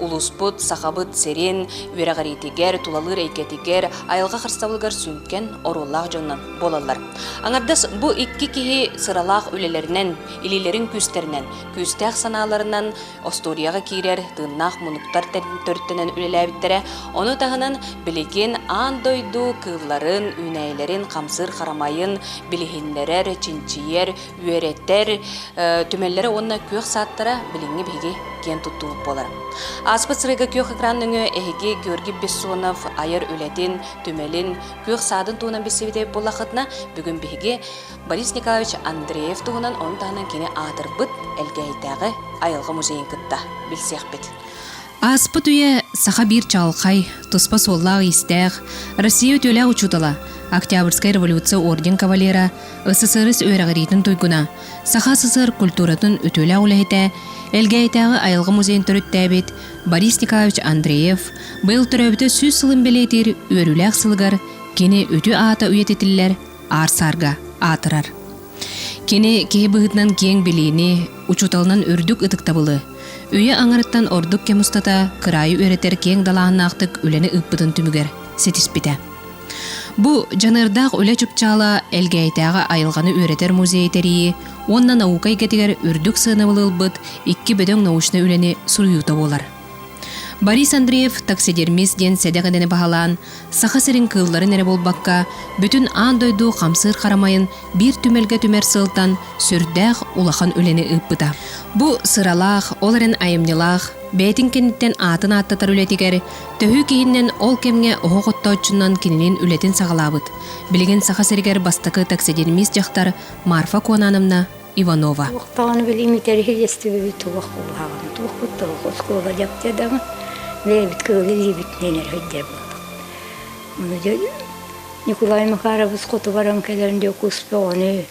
Улууспут Сахабыт сирин үөрэҕириитигэр, тулалыыр эйгэтигэр, айылҕа харыстабылыгар сүҥкэн оруоллаах дьонунан буолаллар. Аҥардас бу икки киһи сыралаах үлэлэринэн, илиилэрин күүстэринэн, күүстээх санааларынан остуоруйаҕа киирэр тыыннаах мунуктар төрүттэнэн үлэлээбиттэрэ, ону таһынан билигин аан дойду кыылларын, үүнээйилэрин хамсыыр харамайын билиһиннэрэр, чинчийэр, үөрэтэр түмэллэрэ уонна күөх сааттара билиҥҥи биһиги киэн туттубут буолара. Ааспыт сырыыга күөх экран нөҥүө эһиги Георгий Бессонов айар үлэтин, түмэлин, күөх саадын туһунан билсибитэ буоллахытына, бүгүн биһиги Борис Николаевич Андреев туһунан ону таһынан кини аатырбыт Элгээйитээҕи айылҕа музейын кытта билсиэхпит. Ааспыт үйэ саха биир чаҕылхай, туспа суоллаах-иистээх, Россия үтүөлээх учуутала, Октябрьскай революция орден кавалера, СССР үөрэҕириитин туйгуна, Саха СССР культуратын үтүөлээх үлэһитэ, Элгээйитээҕи айылҕа музейын төрүттээбит Борис Николаевич Андреев быйыл төрөөбүтэ сүүс сылын бэлиэтиир үөрүүлээх сылыгар кини үтүө аата үйэтитиллэр аар саарга аатырар. Кини киһи быһыытынан киэҥ билиини, учууталынан үрдүк ытыктабылы, үйэ аҥарыттан ордук кэм устата кыраайы үөрэтэр киэҥ далааһыннаахтык үлэни ыыппытын түмүгэр ситиспитэ. Бу дьаныардаах үлэ чыпчаала Элгээйитээҕи айылҕаны үөрэтэр музей тэрийии уонна наука эйгэтигэр үрдүк сыанабыл ылбыт икки бөдөҥ научнай үлэни суруйуута буолар. Борис Андреев таксидермис диэн сэдэх идэни баһылаан, Саха сирин кыылларын эрэ буолбакка, бүтүн аан дойду хамсыыр харамайын биир түмэлгэ түмэр сылтан сүрдээх улахан үлэни ыыппыта. Бу сыралаах, ол эрэн айымньылаах, бэйэтин кэнниттэн аатын ааттатар үлэтигэр төһүү киһиннэн ол кэмҥэ оһох оттооччунан кинилин үлэтин саҕалаабыт. Билигин Саха сиригэр бастакы таксидермис дьахтар Марфа Куонановна Иванова. Туох даҕаны билиим интэриһириэстибэбит туох кулааҕын, туохпут туох оскуола дьаптя даҕын, бэйэбит кыылы-илиибит нэнэрһэйдэрбит. Ону дьэ Николай Макарович хоту баран кэлэн Дьокуускай оҕону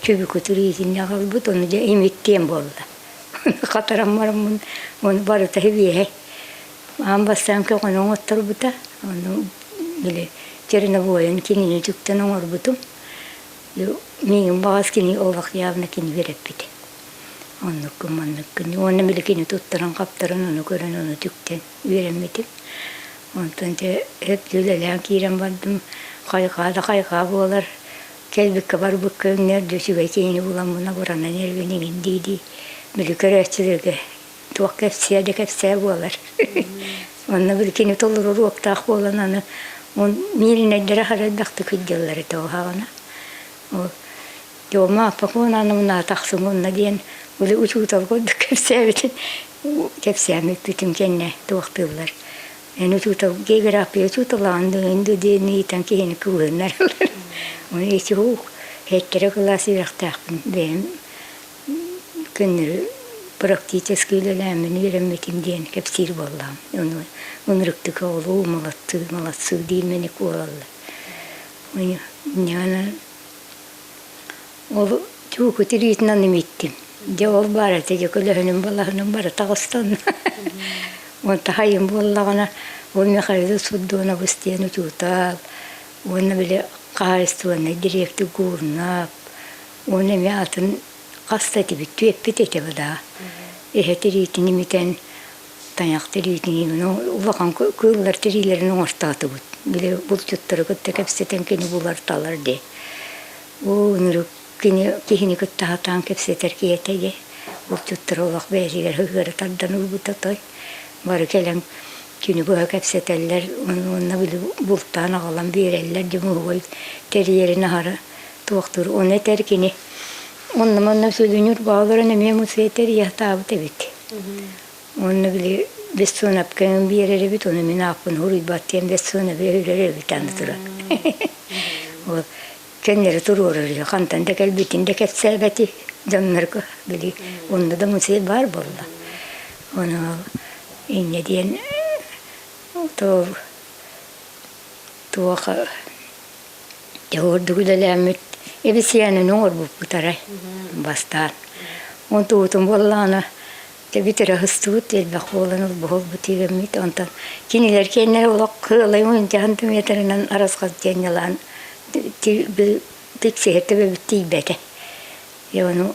чөбүкүтүр иитиннэ аҕалбыт, ону дьэ имиттиэн буолла. Хатаран бараммын ону барыта үһэ. Аан бастаан көҕөнү оҥотторбута, ону били черновойын кинини түктэн оҥорбутум. миигин баҕас кини олох явно кини үөрэппит оннуккун манныккын уонна били кини туттаран-хаптаран ону көрөн ону түктэн үөрэммитим онтон дьэ өптүү үлэлээн киирэн бардым хайҕаа да хайҕаа буолар кэлбиккэ барбыкка үҥнэр да үчүгэй киһини буламмын обуранан эргин иҥин дии дии били көрөөччүлэргэ туох кэпсиэ да кэпсээ буолар. Онно били кини толору уруоктаах буолан аны он мииринэйдэрэ харайдахтык ыйдыллар этэ оһаҕана. Дема Пакунаны мына тахсым онна диэн били учуутал курдук кэпсээбитин кэпсээн ыппытым кэннэ туохтыыллар. Эн учуутал география учууталаан дыын диэн ыйтан киһини кыбылыннарылар. Оны эти ух, хеттере кылаас үрэхтээхпин бэйэм Көннөрү практически үлэлээммин үөрэммитим диэн кэпсиир буоллаҕым. Ону ынырыктык оҕолуу малаттыы, малацыы диимэни куолаллар. Дьэ ол чуку тириитинэн имиттим. Дьэ ол баарата дьэ көлөһүнүм балаһыным бары таҕыстанна. Уонна хайым буоллаҕына ол Михаил Судонобус диэн учуутал уонна били хаһаайыстыбаннай дириэктик Гурнап Уон эмэ атын хас да этибит, түөппүт этэбэ да. Эһэ тириитин имитэн, тайах тириитин улахан кыыллар тириилэрин оҥортоотубут. Били булчуттары кытта кэпсэтэн кини буларталар дии. Уу нырык кини киһини кытта сатаан кэпсэтэр киһитэ дии. Булчуттар олох бэйэтигэр сыһыара тардан ылбыта той. Бары кэлэн күнү быһа кэпсэтэллэр уонна били бултаан аҕалан биэрэллэр дьомуһуой тэрийэрин аһара туохтуур уонна этэр кини онно-манна сөлүнүр бааларын эмиэ мусы этэр яхтаабыт эбит онно били бессонапкаын биэрэр эбит оны мин ааппын уруйбаттыам бессонаби өлөр эбит аны турар ол көннөрү туруорар хантан да кэлбитин да кэпсээбэти дьоннорго били онно да музей баар буолла ону иннэ диэн то туоха дьэ ордук үлэлээммит эбисиэнин оҥорбуппут арай бастаан онтубутун буоллаҕына дьэ бүтэрэ сыстыбыт элбэх буолан олбуһурбут тиигэммит онтон кинилэр кэннэ олох кыалай мындьаһан метрынан арасхал диэнньалаан тиксиһэ төбөбүт тиийбэтэ дьэ ону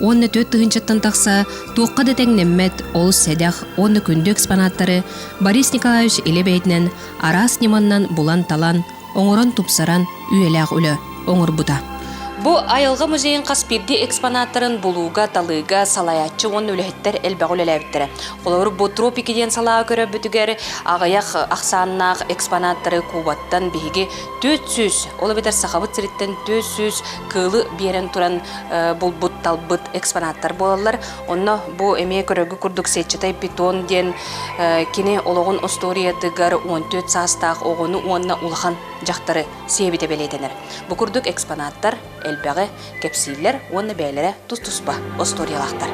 уонна түөрт тыһыынчаттан тахса туохха да тэҥнэммэт олус сэдэх уонна күндү экспонаттары Борис Николаевич илэ бэйэтинэн араас ньыманнан булан-талан, оҥорон-тупсаран үйэлээх үлэ оҥорбута. Бу айылҕа музейын хас биирдии экспонаттарын булууга, талыыга салайааччы уонна үлэһиттэр элбэҕи үлэлээбиттэрэ. Холобур, бу Тропики диэн салааҕа көрөрбүтүгэр аҕыйах ахсааннаах экспонаттары Кубаттан биһиги 400, ол эбэтэр Сахабыт сириттэн 400 кыылы биэрэн туран булбут-талбыт экспонаттар буолаллар. Онно бу эмиэ көрөргө курдук сетчатай питон диэн кини олоҕун остуоруйатыгар 14 саастаах оҕону уонна улахан дьахтары сиэбитэ бэлиэтэнэр. Бу курдук экспонаттар элбэҕи кэпсииллэр уонна бэйэлэрэ тус-туспа остуоруйалаахтар.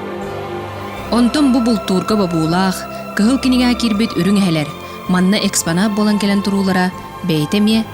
Онтон бу бултуурга бобуулаах, кыһыл кинигэ киирбит үрүҥ эһэлэр, манна экспонат буолан кэлэн туруулара бэйэтэ эмиэ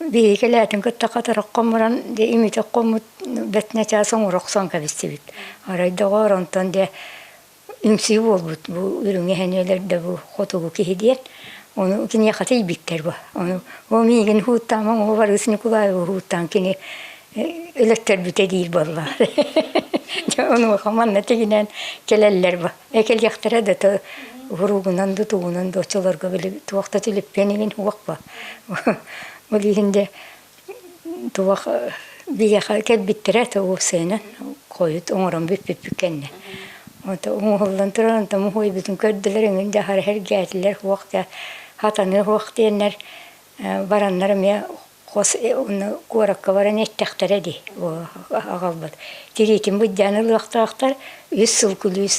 Биһиги кэлээтин кытта хатырах хомуран де имитик хоммут бэтнэ чаас оҥоро охсон кэбистибит. Арай доҕоор онтон де үҥсүү буолбут бу үрүҥ эһэниэлэр да бу хотугу киһи диэн ону киниэхэ тиийбиттэр бу. Ону ол миигин һууттаама оҕобар Ыс Ньукулаевы һууттаан кини Элэктэрбитэ диир буоллар онуоха манна тигинэн кэлэллэр бу экэлиэхтэрэ да то уруугунан да тугунан да оччолорго били туох да түлүппэн игин уох ба ол иһинде туох биэха кэлбиттэрэ то уопсайынан хойут оҥорон бүппүппүт кэннэ ото оҥоһуллан туран тому хуйбутун көрдүлэр эҥин да хараһар гээтилэр хуох да хатаны хуох диэннэр бараннар эмиэ хос куоракка баран эттэхтэрэ дии аҕалбыт тириитин быдьаан ылыахтаахтар үс сыл күлүүс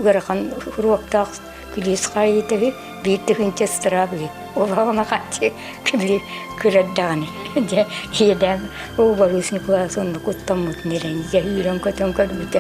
ыарахан уруоктаах күлүүс хаайыыта үһү биир тыһыынча ыстыраап үһү олоҕуна хааччы били кырар даҕаны дьэ иэдээн Борис Николаевич онно куттаммытын эрэнигэ үүрэн көтөн көрбүтэ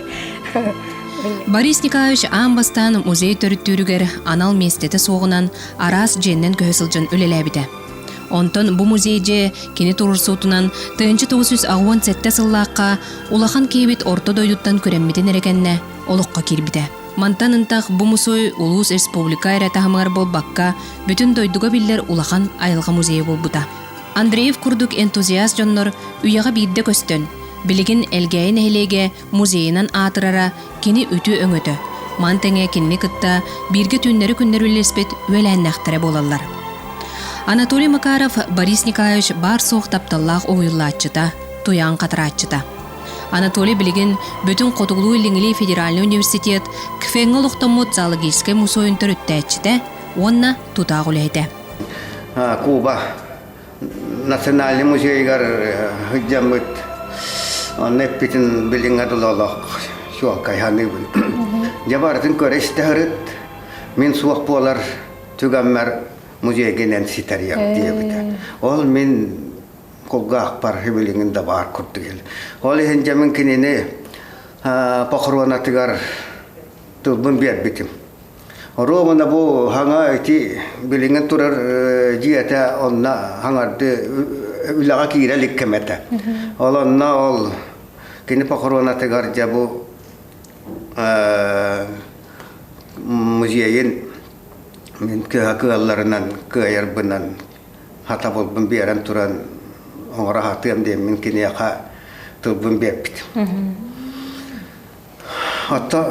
Борис Николаевич аан бастаан музей төрүттүүрүгэр анал миэстэтэ суоҕунан араас дьиэннэн көһө сылдьан үлэлээбитэ Онтон бу музей дьэ кини турурсуутунан тыһынча тоҕус үс аҕыон сэттэ сыллаахха улахан киһибит орто дойдуттан күрэммитин эрэ кэннэ олоххо киирбитэ. Мантан ынтах бу мусуй улуус республика эрэ таһымыгар буолбакка, бүтүн дойдуга биллэр улахан айылҕа музейа буолбута. Андреев курдук энтузиаст дьоннор үйэҕэ биирдэ көстөн, билигин Элгээйи нэһилиэгэ Музейынан аатырара кини үтүө-өҥөтө. Маны тэҥэ кинини кытта бииргэ түүннэри-күннэри үллэспит үөлээннээхтэрэ буолаллар. Анатолий Макаров Борис Николаевич баар-суох тапталлаах уһуйуллааччыта, туйаан хатарааччыта. Анатолий билигин бүтүн Хотугулуу-Илиҥҥилии федеральный университет КФЭҥҥэ олохтоммут зоологическай мусуойун төрүттээччитэ уонна тутаах үлэһитэ. Куба национальнай музейыгар сылдьаммыт онно эппитин билиҥҥэ дылы олох чуолкай саныыбын дьэ барытын көрө-истэҕирит мин суох буолар түгэммэр музейгинэн ситэрийэм диэбитэ ол мин кулгаахпар билиҥин да баар курдук ол иһин дьэ мин кинини похоронатыгар тылбын биэрбитим Романа бу хаҥа ити билиҥҥин турар дьиэтэ онно хаҥарды үлэҕэ киирэ илик кэм этэ. Ол онно ол кини похоронатыгар дьэ бу музейын мин кыһа кыалларынан кыайарбынан хатабылбын биэрэн туран оҥоро сатыам диэммин киниэхэ тылбын биэрбит. Оттон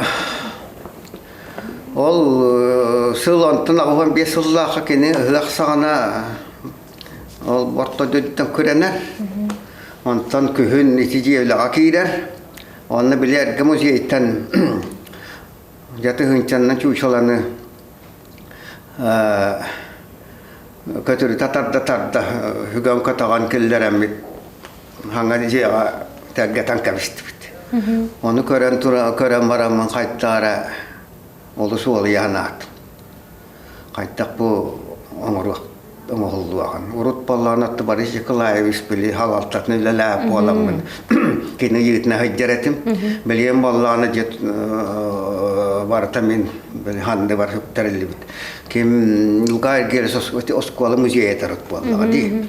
ол сыл онтон аҕабам биэс сыллаахха кини ыһыах саҕана ол орто дойдуттан күрэнэр. Онтон күһүн ити дьиэ үлэҕэ киирэр. Онно били эргэ музейтан дьаты ыһынчаннан чуучаланы көтүрүтэ тарда-тарда, үгэн көтөҕөн киллэрэммит Хаҥан дьиэҕэ тэлгэтэн кэбистибит. Ону көрөн тура көрөн бараммын хайдаара олус уолуйаан ааттым. Хайдах бу оҥоруох оҥоһуллуоҕун. Урут боллоон отто Борис Николаевич били халалтатын үлэлээх буоламмын кини ыйыытына сылдьар этим. Билиэн боллооно дьэ барыта мин били ханды бар үптэриллибит. Ким Луга Эргерес оскуола музейа тарыт буоллаҕа дии.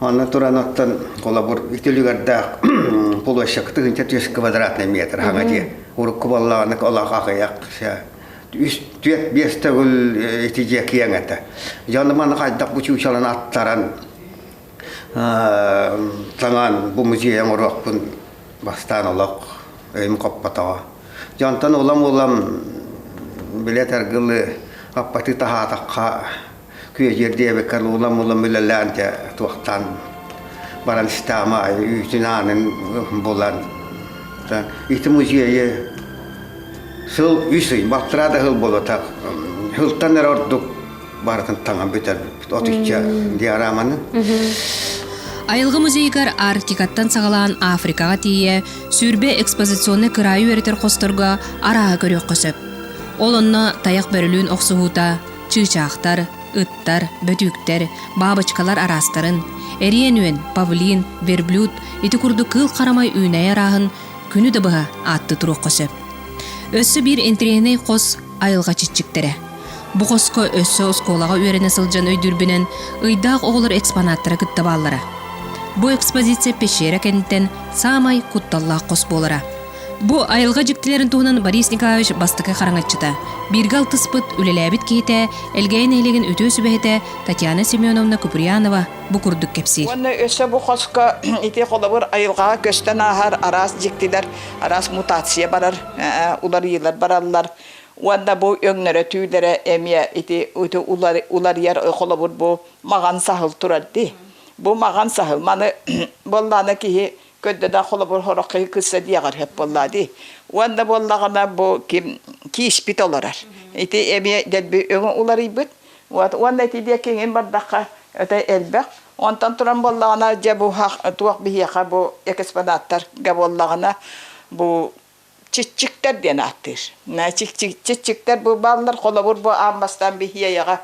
Онно туран оттон холобур үтүлүгэрдээх площадка тыгынча түөс квадратный метр хаҥа дьиэ урукку боллаҕаны олох аҕыйах үс түөрт биэс төгүл ити дьиэ киэҥ этэ дьону маны хайдах бу чучалан аттаран таҥан бу музейын оруохпун бастаан олох өйүм хоппотоҕо дьонтон улам улам билэ таргылы аппаты таһаатахха Күөдьүөр диэбэккэ луула-мулун үлэлээн дьэ туохтан баран истэҕим аайы үүтүн аанын булан ити музейы сыл үс ый балтараа да сыл буолбатах сылтан эрэ ордук барытын таҥан бүтэрбиппит отучча диараманы Айылгы музейыгар Арктикаттан саҕалаан Африкаҕа тиийэ сүүрбэ экспозиционнай кыраайы үөрэтэр хосторго арааһы көрүөххэ сөп. Ол онно тайах бөрөлүүн охсуһуута, Чыычаахтар, ыттар, бөтүүктэр, баабычкалар араастарын, эриэн-үөн, павлин, верблюд ити курдук кыыл харамай үүнэйи арааһын күнү да быһа аатты туруохха сөп. Өссө биир интириэһинэй хос айылҕа чиччиктэрэ. Бу хоско өссө оскуолаҕа үөрэнэ сылдьан өйдүүрбүнэн ыйдаах оҕолор экспонаттара кытта бааллара. Бу экспозиция пещера кэнниттэн саамай кутталлаах хос буолара. Бу айылҕа дьиктилэрин туһунан Борис Николаевич бастакы хараҥаччыта, бииргэ алтыспыт, үлэлээбит киһитэ, Элгээй нэһилигин үтүө сүбэһитэ Татьяна Семеновна Куприянова бу курдук кэпсиир. Уонна өссө бу хоско ити холобур айылҕаҕа көстөн ааһар араас дьиктилэр, араас мутация барар, уларыйыылар бараллар. Уонна бу өҥнөрө-түүлэрэ эмиэ ити уларыйар холобур бу маҕан саһыл турар дии. Бу маҕан саһыл маны буоллаҕына киһи Көрдө да холобур хороххи кысса диэҕэр хеп буолла дии. Уонна буоллаҕына бу ким кииспит олорор. Ити эмиэ дэлби өҥө уларыйбыт. Уонна ити диэки иҥин бардахха өтө элбэх. Онтон туран буоллаҕына дьэ бу туох биһиэхэ бу экспонаттарга буоллаҕына бу Чиччиктэр диэн ааттыыр. Чиччиктэр бу бааллар, холобур бу аан бастаан биһиэйэҕэ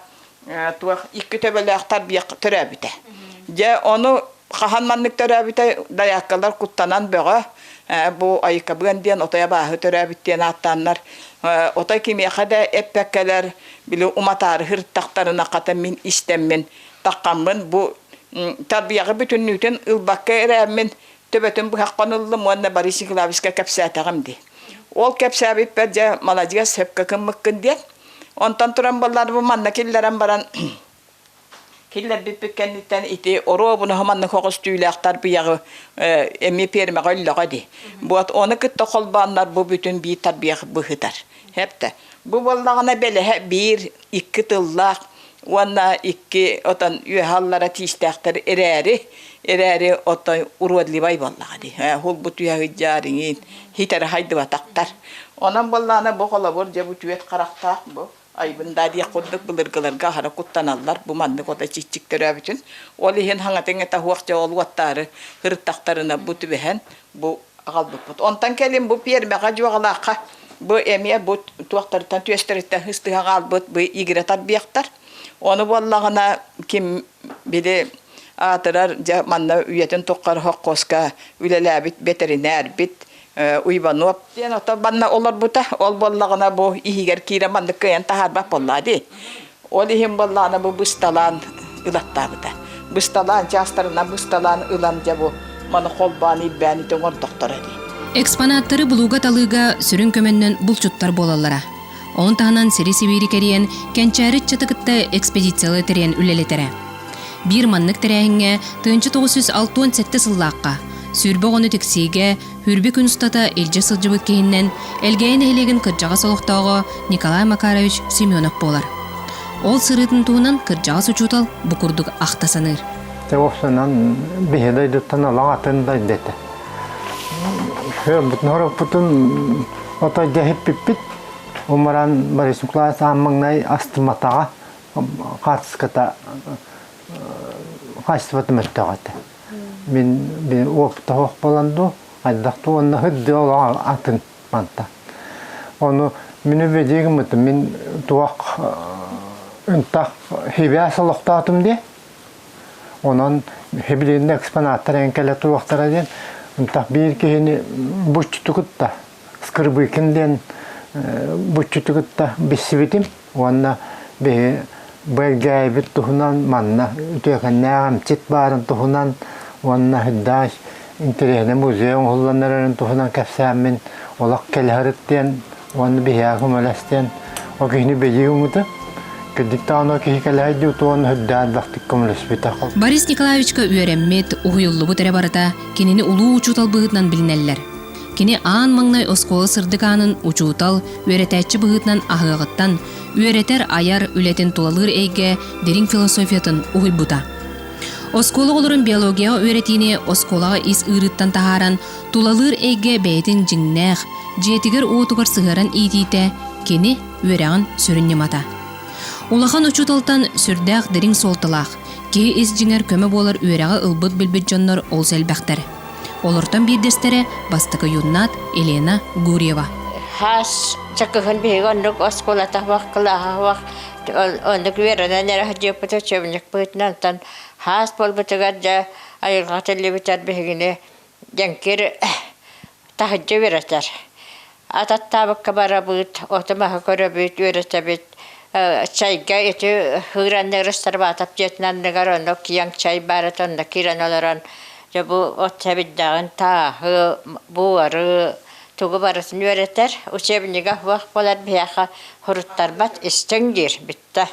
туох икки төбөлөөх тарбыйах төрөөбүтэ. Дьэ ону хаһан маннык төрөөбүтэ дайааккалар куттанан бөҕө бу айыкабыан диэн отой абааһы төрөөбүт диэн ааттааннар отой кимиэхэ да эппэккэлэр били уматаары хырыттахтарына хата мин истэммин таххаммын бу тарбыйаҕы бүтүннүүтүн ылбакка эрэммин төбөтүн быһахпын ыллым уонна Борис Николаевичка кэпсээтэҕим дии. Ол кэпсээбиппэр дьэ маладьыас сөпкө гыммыккын диэн. Онтон туран буоллар бу манна киллэрэн баран киллэрбиппит кэнниттэн ити оруобунаһы манна хоҕус түүлээхтэр быйаҕы эмиэ пиэрмэҕэ өллөҕө дии. Вот ону кытта холбооннор бу бүтүн биир тарбыйах быһытар. Хэптэ. Бу буоллаҕына бэлэһэ биир икки тыллаах уонна икки отон үөһаллара тиистээхтэр эрээри эрээри отой уродливай буоллаҕа дии хулбу түһэ сыдьаарыҥыын хитэрэ хайдыбатахтар онон буоллаана бу холобур дьэ бу түөт харахтаах бу айбын даа диэх курдук былыргыларга аһара куттаналлар бу маннык ото чиччик төрөөбүтүн ол иһин хаҥатын ыта суох дьэ ол уоттаары ырыттахтарына бу түбэһэн бу аҕалбыппыт. Онтон кэлин бу пиэрмэҕэ дьуоҕалаахха бу эмиэ бу туохтарыттан түөстэриттэн хыстыһа хаалбыт бу игирэ тарбиахтар. Ону буоллаҕына ким били аатырар дьэ манна үйэтин туххары хоккуоска үлэлээбит бэтэринээрбит Уйбанов диэн ото манна олорбута. Ол буоллаҕына бу иһигэр киирэ маннык кыайан таһаарбат буоллаа дии. Ол иһин боллаана бу бысталаан ылаттаабыта. Бысталаан чаастарына бысталаан ылан дьэ бу маны холбоон ирбээни тоҥордохторо дии. Экспонаттары булууга-талыыга сүрүн көмөннөн булчуттар буолаллара. Онон таһынан сири-сибиири кэрийэн, Кэнчээри Чаты кытта экспедициялы тэрийэн үлэлэтэрэ. Биир маннык тэрээһиҥҥэ тыынча тоҕус сүүс алтыан сэттэ сыллаахха, сүүрбэ оҕону тиксиигэ, Үүрбү күн устата илдьэ сылдьыбыт киһиннэн Элгээйи нэһилиэгин кырдьаҕас олохтооҕо Николай Макарович Семенов буолар. Ол сырыытын туһунан кырдьаҕас учуутал бу курдук ахта саныыр. Те осынан биһи дойдуттан олаң атын дойду этэ. Бутун хороппутун отой дәһиппиппит. Умаран Борисуклай Саммаңнай астыматаҕа хаартыската хаачыстыбатын өттөҕө этэ. Мин тоһох буолан дуу, хайдах дуу онно һырдыы олоҕо атын манта. Ону мин үбэдии гыммытым мин туох ынтах хибээс олохтоотум дии. Онон хибилиннэ экспонаттар эн кэлэ туохтара диэн ынтах биир киһини буччуту кытта скрыбыкин диэн буччуту кытта билсибитим. уонна биһи бэргээйбит туһунан манна үтүөкэннээх эмчит баарын туһунан уонна һыддааш интэриэһинэй музей оҥоһулланарын туһунан кэпсээммин олох кэлэһэрит диэн уонна биһиэхэ көмөлөстүөн ол киһини билии үҥүтүн Кырдиктаан ол киһи кэлэһэйди утуон үрдээн бахтык көмөлөспүтэ. Борис Николаевичка үөрэммит, уһуйуллубут эрэ барыта кинини улуу учуутал быһыытынан билинэллэр. Кини аан маҥнай оскуола сырдык аанын учуутал, үөрэтээччи быһыытынан аһыаҕыттан, үөрэтэр, айар үлэтин тулалыыр эйгэ дириҥ философиятын уһуйбута. Оскуола оҕолорун биологияҕа үөрэтиини оскуолаҕа ис ыырыттан таһааран, тулалыыр эйгэ бэйэтин дьиҥнээх, дьиэтигэр-уотугар сыһыаран иитиитэ кини үөрэҕин сүрүн ньымата. Улахан учууталтан сүрдээх дириҥ суолталаах, киһи ис дьиҥэр көмө буолар үөрэҕи ылбыт билбит дьоннор олус элбэхтэр. Олортон биирдэстэрэ бастакы юннат Елена Гурьева. Хас чакыһын биһиги оннук оскуолата вах кылааһа вах оннук веранан эрэ дьыыппыта чөмнүк быытынан тан хаас буолбутугар да айылҕа тиллибитэр биһигини дьэҥкир таһыдьа вератар. Ат аттаабыкка барабыт, ото-маһы көрөбүт, үөрэтэбит. Чайга ити ыыранны Расторбатов дьиэтин анныгар онно киэҥ чай баар этэ, онно киирэн олорон дьэ бу от сэбирдэҕин тааһы, буары тугу барытын үөрэтэр. Учебнига суох буолар биһиэхэ суруттарбат истиҥ диир бүттэ.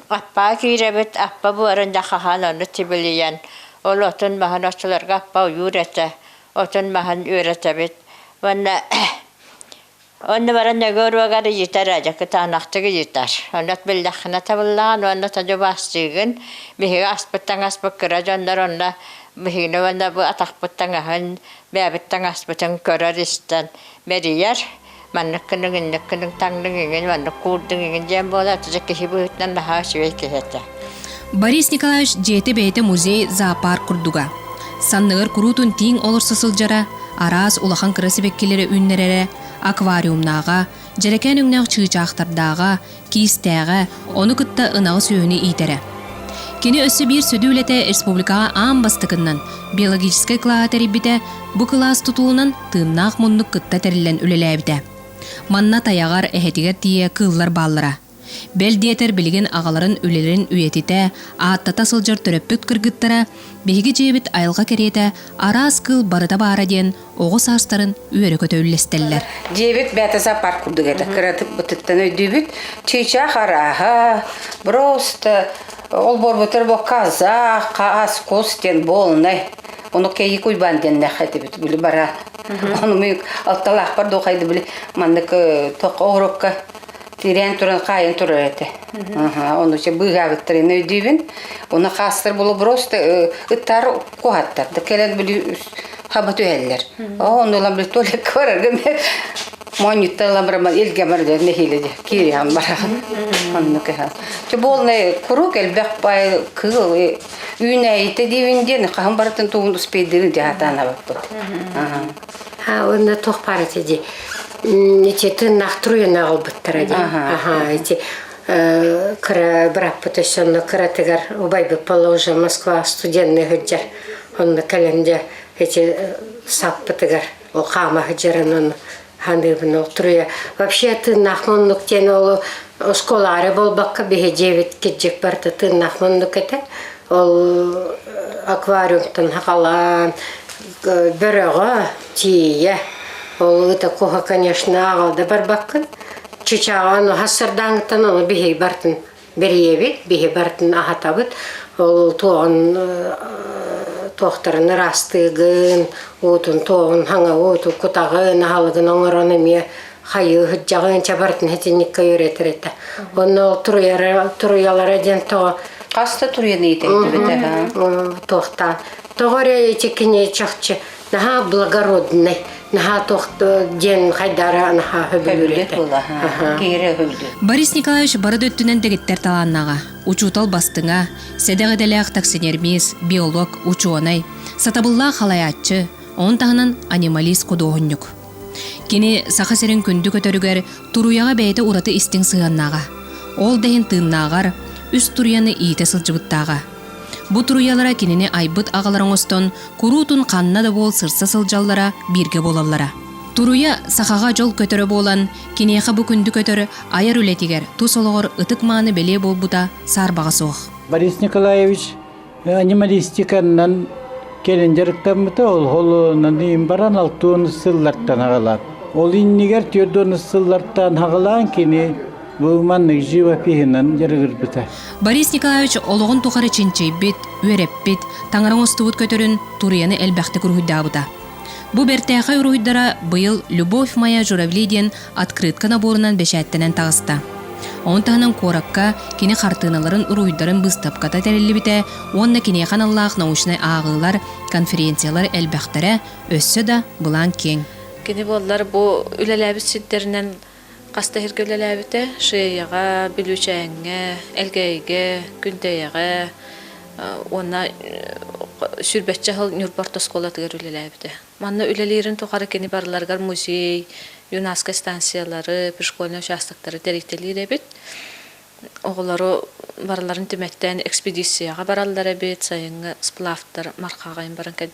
Аппаа киирэбит, аппа буорун да хаһаан ону тибилийэн, ол отун-маһын оччолорго аппа ойуур этэ. отун маһын үөрэтэбит уонна онно баран өгө уруогар ыйытар а дьакытаанахтык ыйытар ону биллэххинэ табыллаҕын уонна тоді убаастыыгын биһиги аспыттан аспыт кыра дьоннор онно биһигини уонна бу атахпыт таҥаһын бэйэбит таҥаспытын көрөр истэн мэрийэр Маннык кылык, инник кылык, таҥлык, игин, маннык куурдук, игин диэн буолар, отче киһи быһыытынан наһаа үчүгэй киһи этэ. Борис Николаевич дьиэтэ бэйэтэ музей, зоопарк курдуга. Санныгар куруутун тииҥ олорсо сылдьара, араас улахан кыра сибэккилэри үүннэрэрэ, аквариумнааҕа, дьэрэкээн өҥнөөх чыычаахтардааҕа, киистээҕэ, ону кытта ынаҕы-сүөһүнү иитэрэ. Кини өссө биир сүдү үлэтэ республикаҕа аан бастакыннан биологическай кылааһы тэрийбитэ, бу кылаас тутулунан тыыннаах муннук кытта тэриллэн үлэлээбитэ. Манна тайаҕар эһэтигэр тиийэ кыыллар бааллара. Бэл диэтэр билигин аҕаларын үлэлэрин үйэтитэ, ааттата сылдьар төрөппүт кыргыттара, биһиги дьиэбит айылҕа кэриэтэ араас кыыл барыта баара диэн оҕо саастарын үөрэ-көтө үллэстэллэр. Диэбит Бээтэсэ парк курдук этэ. Кыратык бытыттан өйдүүбүт. Чыычаах арааһа, просто ол буолбутугар бу казах, хаас, кус диэн буолунай. Ону кэйи куйбаан диэннэх этибит били бара. Ону мы алталаахпар духайды били маннык тох оҕурокка тирээн туран хаайан турар этэ. Ону че быыгаабыттарын өйдүүбүн. Оны хаастар булу просто ытар куһаттар да кэлэр били хаба түһэллэр оо онно ылам били туалекка барарга моонньуттан ылам бараман илге барда нэһиле де кириан барахан онну кыһан ти болный курук элбэх пай кыл үүнәйите диевин ден хаһын баратын тугун успейдерин диатана баппыт ha онна тох парати ди ити тыннах труйына албыттара ди аха ити кыра быраппыт өссө онно кыратыгар убайбыт положа Москва студенныы сылдьар онно кэлэн дьэ эти саппытыгар ол хаама сылдьарын ону ханыыбын ол туруйа вообще тыыннаах муннук диэн ол оскуолаары буолбакка биһи дьиэбит кирдьик барыта тыыннаах муннук этэ ол аквариумтан хахалаан бөрөҕө тиийэ ол ыта куһа конечно ааҕа да барбаккын Чычааҕа ону хас сардааҥыттан ону биһиги бартын бэрийэбит, биһи бартын аһатабыт. Ол туоҕун туохтарын ыраастыыгын, уутун туоҕун хаҥа ууту кутаҕын, аһалыгын оҥорон эмиэ хайыы сыдьаҕын чабартын хитинниккэ үөрэтэр этэ. Онно ол туруйара туруйалара диэн тоҕо хас да туруйаны иитэрдибит аха. Туохтаан тоҕо эрэ ичи кини чахчы наһаа благороднай наһаа тохто диэн хайдара наһаа хөбүлүлүт Борис Николаевич бары да өттүнэн дэгиттэр талааннаҕа учуутал бастыҥа сэдэх идэлээх таксинермист биолог учуонай сатабыллаах халайааччы Оның таһынан анималист-худуоһунньук. Кини Саха сирин күндү көтөрүгэр туруйаҕа бэйэтэ ураты истиҥ сыһыаннааҕа. Ол да иһин тыыннааҕар үс туруйаны иитэ сылдьыбыттааҕа. Бу туруйалара кинини айбыт аҕалар оҥостон куруутун ханна да буол сырса сылдьаллара бииргэ буолаллара. Туруйа сахаҕа дьол көтөрө буолан, киниэхэ бу күндү көтөр айар үлэтигэр тус олоҕор ытык-мааны бэлиэ буолбута саарбаҕа суох. Борис Николаевич анималистиканнан кэлин дьарыктаммыта ол холуонаны иин баран алта уон сыллартан аҕалан ол иннигэр түөрт уон сыллартан аҕалаан кини бу маннык живопиһынан дьарыгырбыта борис николаевич олоҕун тухары чинчийбит үөрэппит таҥара оҥостубут көтөрүн туруйаны элбэхтик уруһуйдаабыта бу бэртээхэй уруһуйдара быйыл любовь моя журавли диэн открытка наборунан бэчээттэнэн таҕыста. Ону таһынан куоракка кини хартыыналарын уруйдарын быыстапката тэриллибитэ уонна киниэхэ аналлаах научнай ааҕыылар, конференциялар элбэхтэрэ, өссө да былаан киэҥ. Кини буоллар бу үлэлээбит сирдэринэн хас да иһиргэ үлэлээбитэ, Шеяҕа, Бүлүүчээҥҥэ, Элгээйигэ, Күндэйэҕэ уонна сүүрбэччэ сыл Ньурба орто оскуолатыгар үлэлээбитэ. Манна үлэлиирин тухары кини барыларыгар музей, юнашко станциялары, пришкольный участоктары тэрилтэлиир эбит. Оҕолору барыларын түмэттэн экспедицияҕа бараллар эбит, сайыҥҥы сплавтар мархаҕайын баран кэлбит.